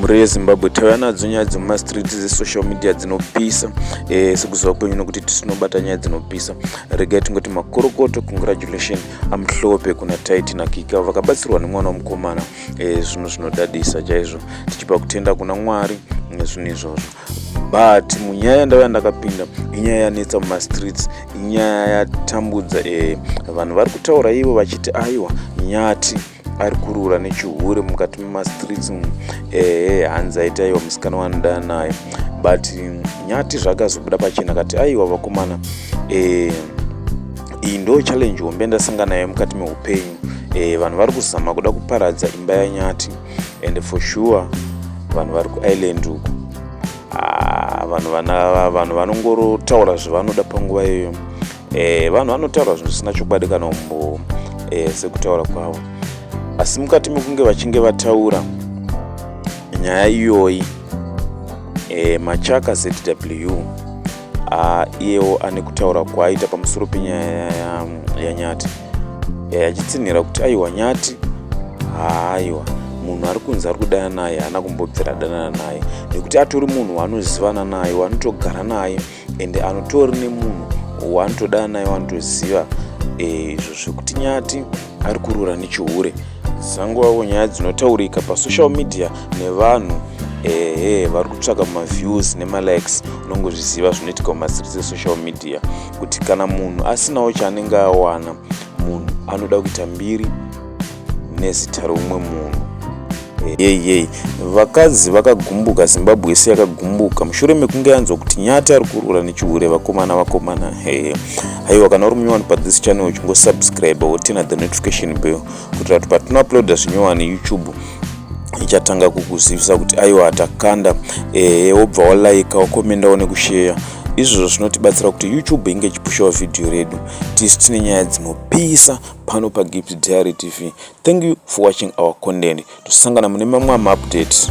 mhuri yezimbabwe tauya nadzo nyaya dzemumastreet dzesocial media dzinopisa eh, sekuziva kwenyu nokuti tisinobata nyaya dzinopisa regai tingoti makorokoto congratulation amhlope kuna taiti nakika vakabatsirwa nemwana wemukomana eh, zvinhu zvinodadisa chaizvo tichipa kutenda kuna mwari nezvinhu eh, izvozvo but munyaya yandava yandakapinda inyaya yanetsa mumastreets inyaya yatambudza vanhu vari kutaura ivo vachiti aiwa nyati ari kurura nechihure mukati memastreets umu ehe hanzi aitaiwa musikana wanoda naye but nyati zvakazobuda pachena kati aiwa vakomana eh, iyi ndo challenge hombe ndasanga nayo mukati meupenyu eh, vanhu vari kuzama kuda kuparadza imba yanyati and for sure vanhu vari kuisland uku ah, vanhu vanongorotaura zvavanoda panguva iyoyo e, vanhu vanotaura zvinhu zvisina chokwadi kana umbowo e, eh, sekutaura kwavo asi mukati mekunge vachinge vataura nyaya iyoyi e, machaka zw ah, iyewo ane kutaura kwaaita pamusoro penyaya yanyati ya achitsinhira kuti aiwa nyati haaiwa munhu ari kunzi ari kudana naye haana kumbobvira adanana naye nekuti atori munhu waanozivana naye waanotogara naye ende anotori nemunhu waanotoda naye wanotoziva eh, izvo zvekuti nyati ari kurura nechihure dzanguvawo nyaya dzinotaurika pasocial media nevanhu ehe vari kutsvaka maviews nemalikes unongozviziva zvinoitika mumasiris esocial media kuti kana munhu asinawo chaanenge awana munhu anoda kuita mbiri nezita reumwe munhu yei yei vakadzi vakagumbuka zimbabwe yese yakagumbuka mushure mekunge yanzwa kuti nyati ari kurura nechihure vakomana vakomana hee haiwa kana uri munyowani pathis channel uchingosubscribe wotina the notification bell kuitira kuti patinouploada zvinyowani youtube ichatanga kukuzivisa kuti aiwa atakanda ehe wobva walaika wakomendawo nekusheya izvozvo zvinotibatsira kuti youtube inge ichipushawo vhidhiyo redu tisi tine nyaya dzinopisa pano paGift Diary TV. Thank you for watching our content. Tosangana mune mamwe maupdates.